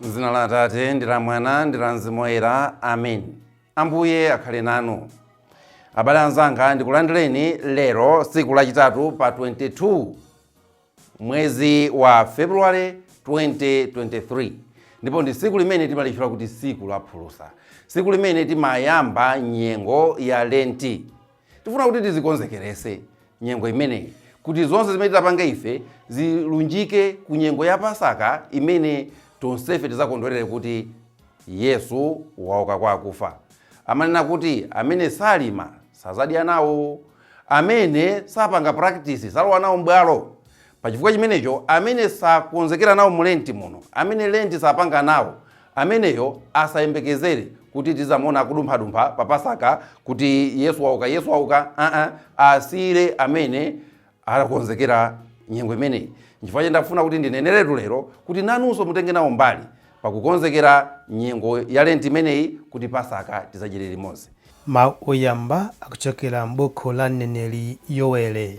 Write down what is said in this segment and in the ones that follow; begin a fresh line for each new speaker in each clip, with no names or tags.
M'dzina la Atate ndi la Mwana ndi la Mzimu Woyera, amen. Ambuye akhale nanu. Abale anzanga, ndikulandireni lero tsiku lachitatu pa 22 mwezi wa February 2023 ndipo ndi tsiku limene timalitchula kuti tsiku la phulusa, tsiku limene timayamba nyengo ya Lenti. Tifuna kuti tizikonzekeretse nyengo imeneyi kuti zonse zimene titapange ife zilunjike ku nyengo ya Pasaka imene tonsefe tizakondwerere kuti Yesu wauka kwa akufa. Amanena kuti amene salima sazadya nawo, amene sapanga practice salowa nawo m'bwalo. Pa chifukwa chimenecho, amene sakonzekera nawo mu Lenti muno, amene Lenti sapanga nawo, ameneyo asayembekezere kuti tizamuona akudumphadumpha pa Pasaka kuti Yesu wauka, Yesu wauka, aa, asiyire amene anakonzekera nyengo imeneyi. Nchifukwa chake ndafuna kuti ndineneretu lero kuti nanunso mutenge nawo mbali pakukonzekera nyengo ya Lenti imeneyi kuti Pasaka tizadyere limodzi. Mawu Oyamba
Akuchokera M'buku la Mneneri Yowele.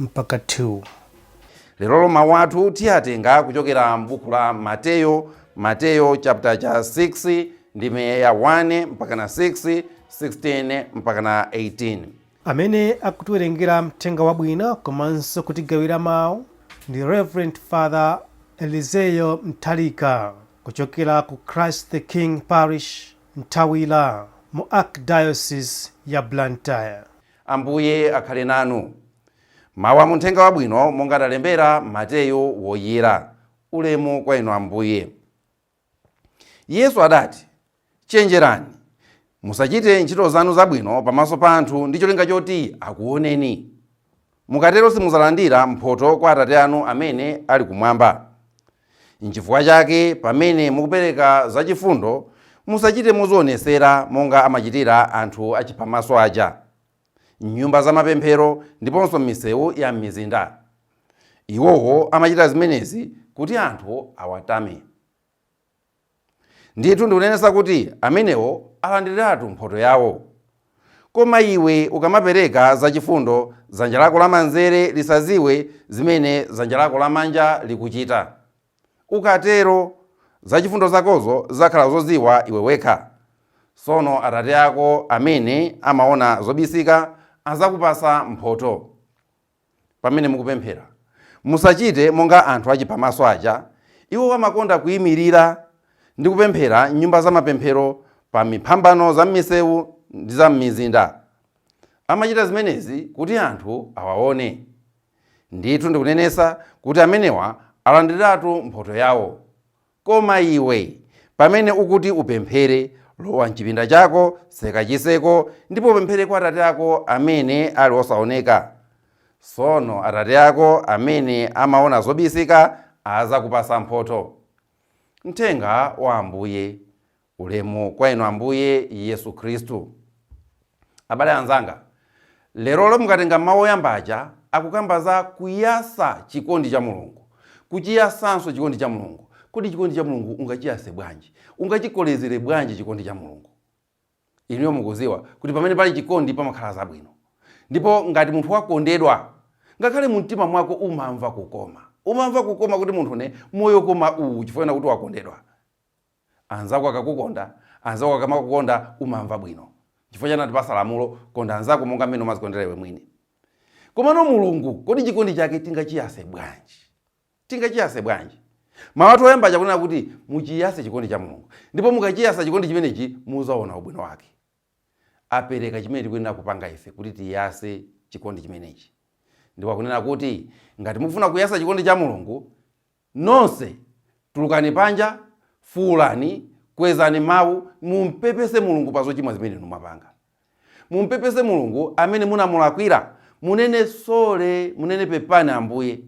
1-2.
Lerolo mawu athu tiyatenga kuchokera m'buku la Mateyo, Mateyo chaputala cha 6 ndime ya 1 mpakana 6, 16 mpakana 18. Amene
akutiwerengera Mthenga Wabwino komanso kutigawira mawu ndi Reverend Father Elizeyo Nthalika kuchokera ku Christ the King Parish, Nthawira mu Archdiocese ya Blantyre.
Ambuye akhale nanu. Mawu a Munthenga Wabwino monga adalembera Mateyo Woyera. Ulemu kwa Inu Ambuye. Yesu adati, Chenjerani, musachite ntchito zanu zabwino pamaso pa anthu ndi cholinga choti akuwoneni. Mukatero simudzalandira mphotho kwa Atate anu amene ali kumwamba. N'chifukwa chake pamene mukupereka zachifundo, musachite mozionetsera monga amachitira anthu achiphamaso aja, m'nyumba za mapemphero ndiponso m'misewu ya m'mizinda. Iwowo amachita zimenezi kuti anthu awatame. Ndithu ndikunenetsa kuti amenewo alandiriratu mphotho yawo. Koma iwe ukamapereka zachifundo, dzanja lako lamanzere lisadziwe zimene dzanja lako lamanja likuchita. Ukatero, zachifundo zakozo zidzakhala zodziwa iwe wekha. Tsono Atate ako amene amaona zobisika adzakupatsa mphotho. pamene mukupemphera. Musachite monga anthu achiphamaso aja, iwo amakonda kuimirira ndi kupemphera m'nyumba za mapemphero pa miphambano za m'misewu ndi za m'mizinda. Amachita zimenezi kuti anthu awaone. Ndithu ndikunenetsa kuti amenewa alandiriratu mphotho yawo. Koma iwe, pamene ukuti upemphere, lowa m'chipinda chako, seka chiseko, ndipo upemphere kwa Atate ako amene ali osaoneka. Sono Atate ako amene amaona zobisika azakupasa mphotho. Mthenga wa Ambuye. Ulemu kwa Inu, Ambuye Yesu Khristu. Abale anzanga, lerolo mukatenga mawu oyamba aja akukamba za kuyasa chikondi cha Mulungu, kuchiyasanso chikondi cha Mulungu. Kodi chikondi cha Mulungu ungachiyase bwanji? Ungachikolezere bwanji chikondi cha Mulungu? Inuyo mukuziwa kuti pamene pali chikondi pamakhala zabwino. Ndipo ngati munthu wakondedwa, ngakhale mumtima mwako umamva kukoma. Umamva kukoma kuti munthune moyo koma uwu chifukwa chonena kuti wakondedwa. Anzako akakukonda, Anzako akamakukonda umamva bwino. N'chifukwa chake anatipasa lamulo, Konda anzako monga mmene umazikondera iwe mwini. Komano Mulungu, kodi chikondi chake tingachiyase bwanji? Tingachiyase bwanji? Mawu athu oyamba aja akunena kuti, Muchiyase chikondi cha Mulungu. Ndipo mukachiyasa chikondi chimenechi muzaona ubwino wake. Apereka chimene tikuyenera kupanga ife kuti tiyase chikondi chimenechi. Ndipo akunena kuti, Ngati mufuna kuyasa chikondi cha Mulungu, Nonse tulukani panja, fuulani, kwezani mawu, mumpepese Mulungu pa zochimwa zimene inu mwapanga. Mumpepese Mulungu amene munamulakwira. Munene, Sorry! Munene, Pepani Ambuye!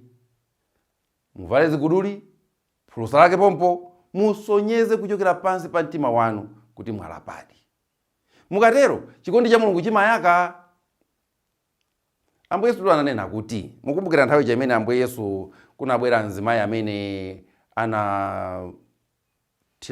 Muvale ziguduli, phulusa lake pompo, musonyeze kuchokera pansi pa mtima wanu kuti mwalapadi. Mukatero, chikondi cha Mulungu chimayaka! Ambuye Yesutu ananena kuti, mukumbukira nthawi ija imene Ambuye Yesu kunabwera mzimayi amene anathira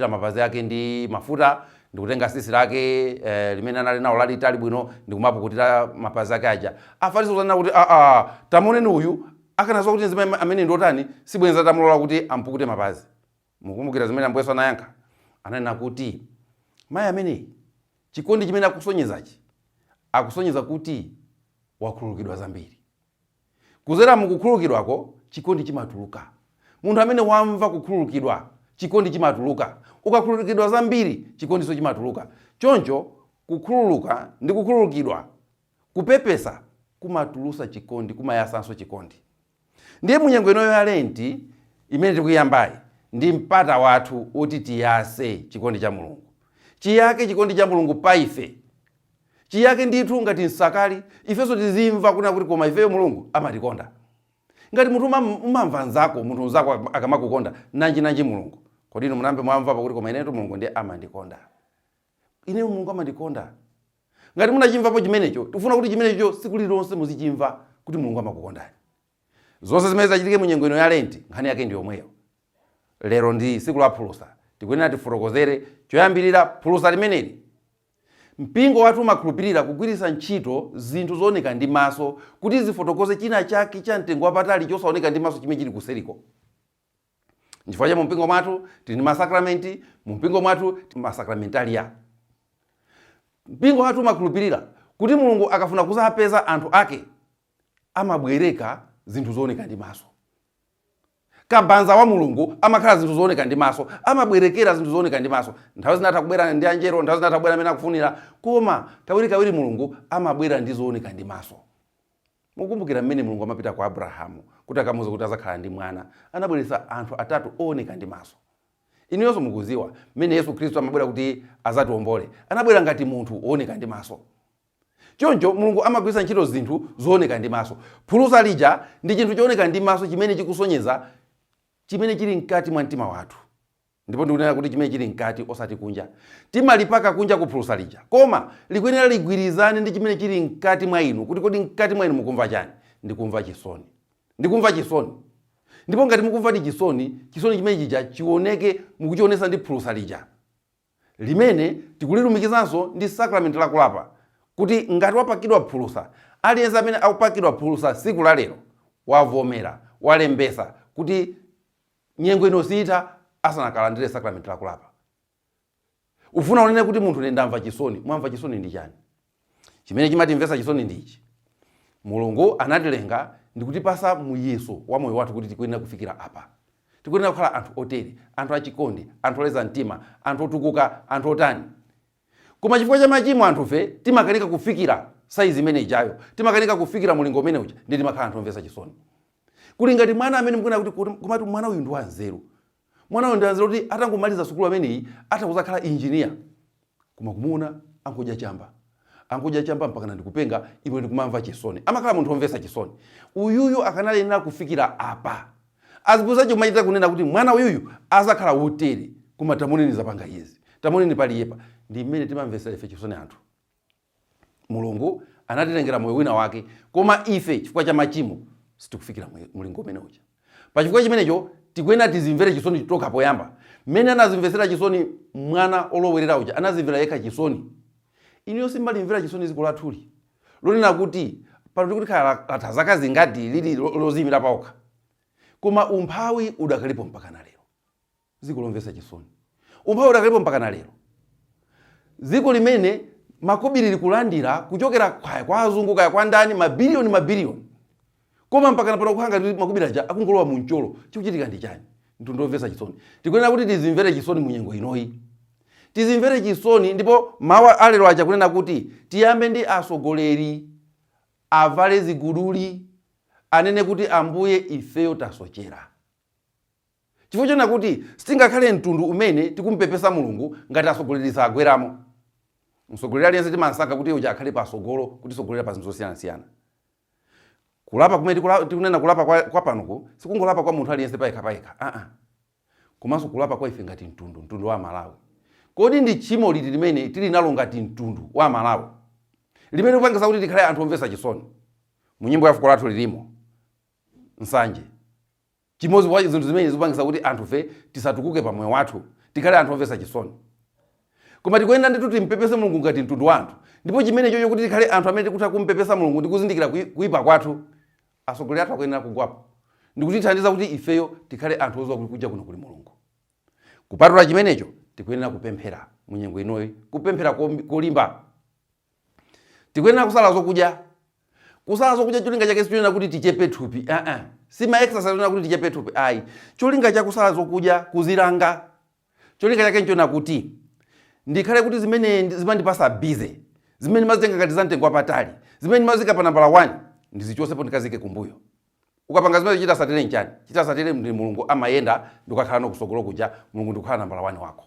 mapazi ake ndi mafuta ndikutenga sisi lake eh, limene anali nawo lalitali bwino ndikumapukutira mapazi ake aja. Afarisi kuzanena kuti aa, ah, ah, tamuoneni uyu akanaziwa kuti mzimayi amene ndiotani sibwenza atamulola kuti ampukute mapazi. Mukumbukira zimene Ambuye Yesu anayankha? Ananena kuti, Mayi ameneyu, chikondi chimene akusonyezachi, akusonyeza kuti wakhululukidwa zambiri. Kuzera mu kukhululukidwako, chikondi chimatuluka. Munthu amene wamva kukhululukidwa, chikondi chimatuluka. Ukakhululukidwa zambiri, chikondinso chimatuluka. Choncho, kukhululuka ndi kukhululukidwa, kupepesa, kumatulusa chikondi, kumayasanso chikondi. Ndiye munyengo inoyo ya lenti imene tikuyambayi ndi mpata wathu woti tiyase chikondi cha Mulungu. Chiyake chikondi cha Mulungu pa ife. Chiyake ndithu ngati nsakali, ifenso tizimva kunena kuti koma ifeyo Mulungu amatikonda. Ngati munthu umam- umamva nzako, munthu nzako akam- akamakukonda, nanji nanji Mulungu. Kodi inu munayambe mwamvapo kuti koma inetu Mulungu ndiye amandikonda. Ineyo Mulungu amandikonda. Ngati munachimvapo chimenecho, tikufuna kuti chimenecho tsiku lirilonse muzichimva, kuti Mulungu amakukondani. Zonse zimene zitachitike mu nyengo ino ya Lenti, nkhani yake ndi yomweyo. Lero ndi Tsiku la Phulusa, tikuyenera tifotokozere choyambirira phulusa limeneli. Mpingo wathu umakhulupirira kugwiritsa ntchito zinthu zooneka ndi maso kuti zifotokoze china chake cha mtengo wapatali chosaoneka ndi maso chimene chili kuseriko. Nchifukwa chake mumpingo mwathu tili ndi masakramenti, mumpingo mwathu tili masakramentalia. Mpingo wathu umakhulupirira kuti Mulungu akafuna kuzapeza anthu ake amabwereka zinthu zooneka ndi maso. Kabanza wa Mulungu amakhala zinthu zooneka ndi maso, amabwerekera zinthu zooneka ndi maso. Nthawi zina atha kubwera ndi anjelo, nthawi zina atha kubwera mmene akufunira, koma kawirikawiri Mulungu amabwera ndi zooneka ndi maso. Mukukumbukira mmene Mulungu amapita kwa Abrahamu kuti akamuuze kuti azakhala ndi mwana, anabweretsa anthu atatu owoneka ndi maso. Inuyonso mukudziwa mmene Yesu Khristu amabwera kuti azatiombole, anabwera ngati munthu wooneka ndi maso. Choncho Mulungu amagwiritsa ntchito zinthu zooneka ndi maso. Phulusa lija ndi chinthu chooneka ndi maso chimene chikusonyeza chimene chili mkati mwa mtima wathu. Ndipo ndikunena kuti chimene chili mkati osati kunja. Timalipaka kunjaku phulusa lija. Koma likuyenera ligwirizane ndi chimene chili mkati mwa inu kuti kodi mkati mwa inu mukumva chani. Ndikumva chisoni. Ndikumva chisoni. Ndipo ngati mukumvadi chisoni, chisoni chimene chija chioneke mukuchionesa ndi phulusa lija. Limene tikulilumikizanso ndi sacrament la kulapa kuti ngati wapakidwa phulusa, aliyense amene akupakidwa phulusa tsiku la lero wavomera, walembesa kuti. Nyengo ino siitha asanakalandire sacrament la kulapa. Ukufuna unene kuti munthu ine ndamva chisoni? Mwamva chisoni ndi chani? Chimene chimatimvetsa chisoni ndi ichi, Mulungu anatilenga ndikutipasa muyeso wa moyo wathu kuti tikuyenera kufikira apa. Tikuyenera kukhala anthu otere, anthu achikondi, anthu oleza mtima, anthu otukuka, anthu otani. Koma chifukwa cha machimo anthufe timakanika kufikira size imene ijayo, timakanika kufikira mulingo umene uja ndiye timakhala anthu omvetsa chisoni. Kuli ngati mwana amene mukuona kuti komatu mwana uyu ndi wanzeru. Mwana uyu ndi wanzeru kuti atangomaliza sukulu ameneyi atha kuzakhala engineer. Koma kumuona angodya chamba. Angodya chamba mpakana ndikupenga iwe ndikumamva chisoni. Amakhala munthu omvetsa chisoni. Uyuyu akanayenera kufikira apa. Aziphunzitsi ake kumachita kunena kuti mwana uyuyu azakhala wotere. Koma tamuoneni zapangazi. Tamuoneni paliyepa. Ndi mmene timamvetsera ife chisoni anthu. Mulungu anatilengera moyo wina wake, koma ife chifukwa cha machimo sitikufikira mwe- mlingo umene uja. Pa chifukwa chimenecho tikuyenera tizimvere chisoni tokha poyamba, mmene anazimvetsera chisoni mwana olowerera uja, anazimvera yekha chisoni. Inuyo simumalimvera chisoni dziko lathuli lonena kuti pano tikuti khala la- latha zaka zingati lili lo- loziyimira paokha, koma umphawi udakalipo mpaka na lero. Dziko lomvetsa chisoni. Umphawi udakalipo mpakana lero. Dziko limene makobiri likulandira kuchokera kaya kwa azungu kaya kwa ndani mabiliyoni mabiliyoni. Koma mpakana pano kukhala ngati makobiri aja akungolowa mu mcholo. Chikuchitika ndi chani? Mtundu omvetsa chisoni. Tikuyenera kuti tizimvere chisoni mu nyengo inoyi. Tizimvere chisoni ndipo mawu a lero aja kunena kuti tiyambe ndi atsogoleri avale ziguduli anene kuti Ambuye ifeyo tasochera. Chifukwa chonena kuti sitingakhale mtundu umene tikumupepesa Mulungu ngati atsogoleri sagweramo. Mtsogoleri aliyense timansankha kuti uja akhale patsogolo kutisogolera pa zinthu zosiyanasiyana. Kulapa kumene tikula, tikunena kulapa kwa, kwa panopo sikungolapa kwa munthu aliyense payekha payekha. Aa. Komanso kulapa kwa ife ngati mtundu, mtundu wa Malawi. Kodi ndi tchimo liti limene tili nalo ngati mtundu wa Malawi? Limene likupangitsa kuti tikhale anthu omvetsa chisoni? Mu nyimbo ya fuko lathu lilimo nsanje. Chimodzi mwa zinthu zimene zikupangitsa kuti anthufe tisatukuke pa moyo wathu, tikhale anthu omvetsa chisoni. Koma tikuyenera ndithu timpepese Mulungu ngati mtundu wa anthu, ndipo chimenechocho kuti tikhale anthu amene tikutha kumpepesa Mulungu ndi kuzindikira kui, kuipa kwathu, atsogoleri athu akuyenera kugwapo ndi kutithandiza kuti ifeyo tikhale anthu oziwa kuti kunja kuno kuli Mulungu. Kupatula chimenecho, tikuyenera kupemphera mu nyengo inoyi, kupemphera kolimba. tikuyenera kusala zokudya kusala zokudya cholinga chake sichonena kuti tichepe thupi uh -uh. si ma exercise onena kuti tichepe thupi ayi cholinga cha kusala zokudya kuzilanga cholinga chake nchona kuti ndikhale kuti zimene zimandipasa busy zimene mazitenga ngati za mtengo wapatali zimene mazika pa nambala 1 ndizichosepo ndikazike kumbuyo ukapanga zimenezo chotsatira nchani chotsatira ndi mulungu amayenda ndikukakhala ano kusogolo kuja mulungu ndikukhala nambala 1 wako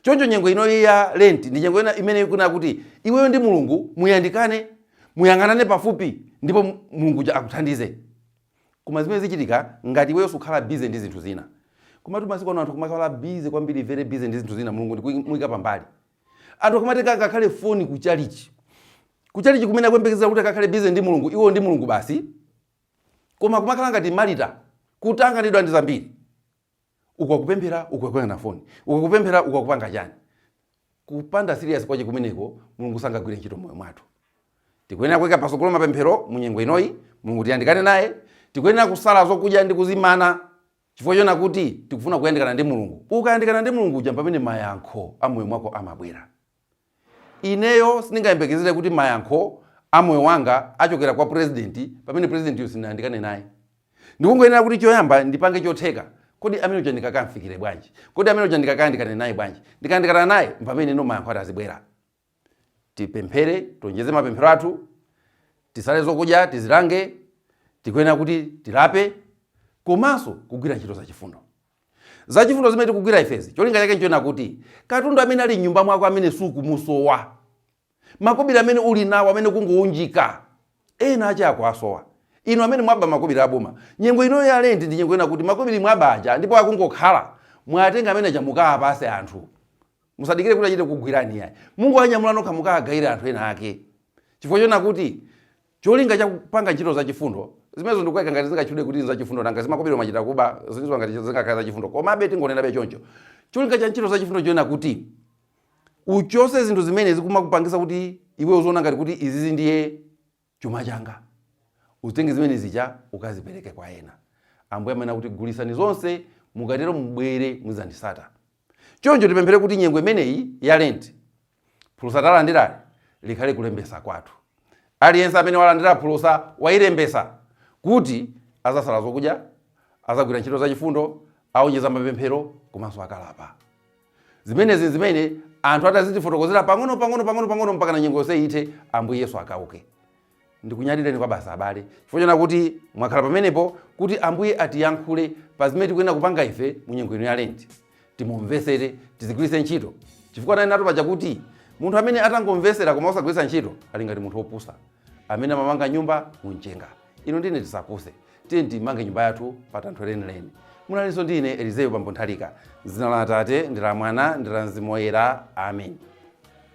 Choncho nyengo inoyi ya Lenti ndi nyengo imene ikufuna kuti iweyo ndi Mulungu muyandikane, muyang'anane pafupi ndipo Mulungu uja akuthandize. Koma zimene zichitika ngati iweyo sukhala busy ndi zinthu zina. Komatu masiku ano anthu kumakhala busy kwambiri very busy ndi zinthu zina Mulungu ndi kumuika pambali. Anthu akumatenga ngakhale foni ku chalichi. Ku chalichi kumene akuyembekezera kuti akakhale busy ndi Mulungu, iwo ndi Mulungu basi. Koma kumakhala ngati Marita kutanganidwa ndi zambiri. uku akupemphera uku akuyang'ana foni uku akupemphera uku akupanga chani kupanda serious kwache kumeneko mulungu sangagwire ntchito moyo mwathu tikuyenera kuika patsogolo mapemphero mu nyengo inoyi mulungu tiyandikane naye tikuyenera kusala zokudya ndi kuzimana chifukwa chona kuti tikufuna kuyandikana ndi mulungu ukayandikana ndi mulungu uja mpamene mayankho a moyo mwako amabwera Ineyo sindingayembekezere kuti mayankho a moyo wanga achokera kwa president pamene president yo sindinayandikane naye. Ndikungoyenera kuti choyamba ndipange chotheka. Kodi amene uja ndingakamfikire bwanji? Kodi amene uja ndingakayandikane naye bwanji? Ndikayandikana naye, mpamene no mayankho ati azibwera. Tipemphere, tionjeze mapemphero athu, tisale zokudya, tizilange, tikuyenera kuti tilape komanso kugwira ntchito zachifundo. za chifundo zimene tikugwira ifezi cholinga chake nchonena kuti katundu amene ali mnyumba mwako amene sukumusowa makobiri amene uli nawo amene akungounjika ena ake akuwasowa inu amene mwaba makobiri aboma nyengo inoyo ya lenti ndi nyengo yoona kuti makobiri mwaba aja ndipo akungokhala muwatenge amene aja mukaapase anthu musadikire kuti achite kugwirani yayi mungowanyamula nokha mukaagawire anthu ena ake chifukwa chona kuti Cholinga cha kupanga ntchito za chifundo zimenezo ndikukaika ngati zingatchulidwe kuti nzachifundo, nanga zimakobiri mwachita kuba zilizo ngati zingakhale zachifundo, komabe tingonenabe choncho. Cholinga cha ntchito za chifundo nchonena kuti uchose zinthu zimene zikumakupangisa kuti iwe uziona ngati kuti izizi ndiye chuma changa, uzitenge zimene zija ukazipereke kwa ena. Ambuye amanena kuti gulisani zonse, mukatero mubwere muzandisata. Choncho tipemphere kuti nyengo imeneyi ya Lenti, phulusa talandirali likhale kulembetsa kwathu. Aliyense amene walandira phulusa wazilembetsa kuti azasala zokudya, azagwira ntchito za chifundo, aonjeza mapemphero komanso akalapa. Zimenezi nzimene anthu atazitifotokozera pang'ono pang'ono pang'ono pang'ono mpakana nyengo yonse ithe Ambuye Yesu akauke. Ndikunyadileni kwabasi abale chifukwa chona kuti mwakhala pamenepo kuti Ambuye atiyankhule pa zimene tikuyenera kupanga ife mu nyengo ino ya lenti. Timumvesere, tizigwiritse ntchito. Chifukwa ananenatu paja kuti munthu amene atangomvesera koma osagwiritsa ntchito ali ngati munthu opusa amene amamanga nyumba mu mchenga. Inu ndine tisapuse. Tiyeni timange nyumba yathu pa thanthwe lenileni. Munalinso ndi ine Elizeyo Bambo Nthalika. M'dzina la Atate, ndi la Mwana, ndi la Mzimu Woyera. Amen.